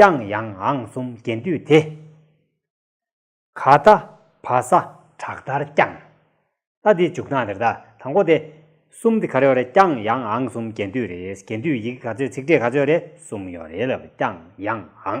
ཀྱང་ཡང་ཨང་གསུམ་རྒྱན་འདུས་དེ། ག་ད་བ་ས་བྲག་ལྟར་བརྐྱང། ད་འདི་འཇུག་སྟངས་དེར་ད་དང་པོ་དེ། གསུམ་དེ་ག་རེ་བ་རེད་ཀྱང་ཡང་ཨང་གསུམ་རྒྱན་འདུས་རེད་རྒྱན་འདུས་ཡི་གེ་ག་ཚོད་ཚིག་འགྲེལ་ག་ཚོད་རེད་གསུམ་ཡོད་རེད་ལབ་ཀྱང་ཡང་ཨང།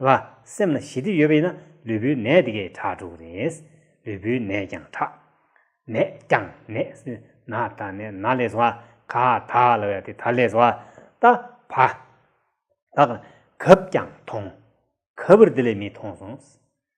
ལ། སེམས་ལ་ཞི་བདེ་ཡོད་པ་ཡིན་ན་ལུས་པོའི་ནད་དེ་གའི་ཁྲག་དྲུག་རེད། ལུས་པོའི་ནད་ཀྱང་ཁྲག། ནད་ཀྱང་ནད། ན་ད་ནད་ན་ལས་བཟོ་བ། ག་ད་ལ་བས་དེ་ད་ལས་བཟོ་བ། ད་བ། ད་ག། གབ་ཀྱང་ཐོང། གབ་པར་དེ་ལས་མི་ཐོང་སོང།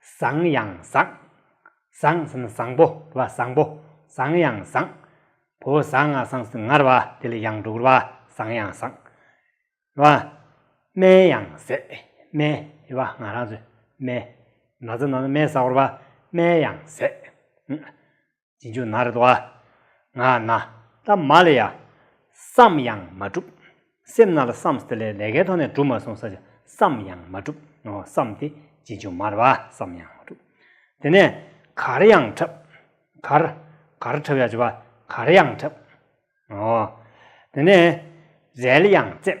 བཟང་ཡང་བཟང། བཟང་ཟེར་ན་བཟང་པོ་དེ་བ་བཟང་པོ། བཟང་ཡང་བཟང། བོ་བཟང་ང་བཟང་ཟེར་ན་ངར་བ་དེ་ལ་ཡང་འགྲོ་གི་རེད་བ་བཟང་ཡང་བཟང། དེ་བ། སྨན་ཡང་ཟས། སྨན། དེ་བ་ང་རང་ཚོས་སྨན། ན་ཚ་ན་ན་སྨན་བཟའ་གོ་རེད་བ་སྨན་ཡང་ཟས། རྗེས་འཇུག་ནཱ་རཏ྄་ང་ན་ཏ྄་མ་ལ་ཡ། བསམ་ཡང་མ་གྲུབ། སེམས་ན་ལ་བསམ་སྟ྄་ལས་ལས་ཀའི་ཐོག་ནས་གྲུབ་མ་སོང་ས་ཆ་བསམ་ཡང་མ་གྲུབ་ནོ་བསམ་སྟེ་རྗེས་འཇུག་མར་བ་བསམ་ཡང་མ་གྲུབ། དེ་ནས་གར་ཡང་འཁྲབ། གར། གར་འཁྲབ་ཡ་ཅོ་བ་གར་ཡང་འཁྲབ། ཨོ། དེ་ནས། རལ་ཡང་རྩེབ།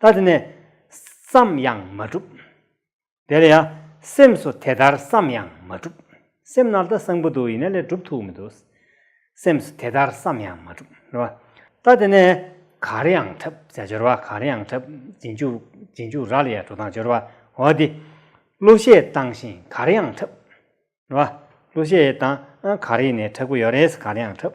ད་དེ་ནས་བསམ་ཡང་མ་གྲུབ། དེ་ལ་ཡང་སེམས་སུ་དེ་ལྟར་བསམ་ཡང་མ་གྲུབ། སེམས་ནཱ་ལྟ་སངས་པོ་འདུག་ཡིན་ན་ལས་གྲུབ་ཐུག་མི་འདུག། སེམས་སུ་དེ་ལྟར་བསམ་ཡང་མ་གྲུབ། རེད་བ། ད་དེ་ནས་གར་ཡང་འཁྲབ་བྱ་སྦྱོར་བ་གར་ཡང་འཁྲབ། རྗེས་འཇུག་རྀ་ལ་ཡང་འགྲོ་སྟངས་སྦྱོར་བ། འོ་དེ། གླུ་གཞས་བཏང་ཞིང་གར་ཡང་འཁྲབ། རེད་བ། གླུ་གཞས་བཏང་གར་ཡིན་ནས་འཁྲབ་ཀྱི་ཡོད་རེད་གར་ཡང་འཁྲབ།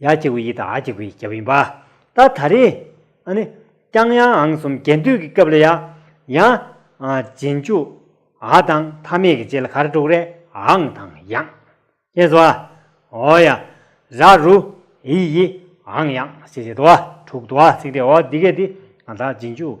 ཡ་གཅིག་པུ་ཡི་དང་ཨ་གཅིག་པུ་ཡི་རྒྱབ་ཡིན་པ། ད་ད་རེས་ཨ་ནི་ཀྱང་ཡང་ཨང་གསུམ་རྒྱལ་འདུས་ཀྱི་སྐབས་ལ་ཡང་ཡང་རྗེས་འཇུག་ཨ་དང་མཐའ་མེད་ཀྱི་རྗེས་ལ་གར་དྲུག་རེ་ཨང་དང་ཡང། ཅེས་སོ། ཨོ་ཡ། ར་རུ། ཨི་ཡི། ཨང་ཡང། ཞེས་བྱེད་དོ། དྲུག་དུ་ཨ་ཚིག་སྟེ་ཨོ་འདི་སྐད་དེ་ཨ་དང་རྗེས་འཇུག།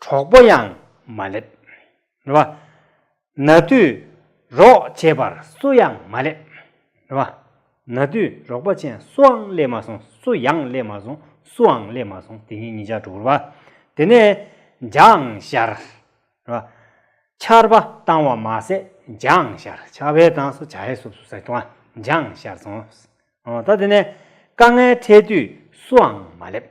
གྲོགས་པོ་ཡང་མ་སླེབས། རེད་བ། ན་དུས་རོགས་བྱེད་པར་སུ་ཡང་མ་སླེབས། རེད་བ། ན་དུས་རོགས་པ་ཅན་སུའང་སླེབས་མ་སོང་སུ་ཡང་སླེབས་མ་སོང་སུའང་སླེབས་མ་སོང་དེ་ཉིན་ཉིན་ཞག་དྲུག་རེད་བ། དེ་ནས་འཇང་ཤར། རེད་བ། ཆར་པ་བཏང་བ་མ་ཟད་འཇང་ཤར་ཆར་བས་བཏང་སོ་བྱ་ཧེ་སུབ་སུབ་ཟེར་དུང་འཇང་ཤར་སོང། ད་དེ་ནས་དཀའ་ངལ་འཕྲད་དུས་སུའང་མ་སླེབས།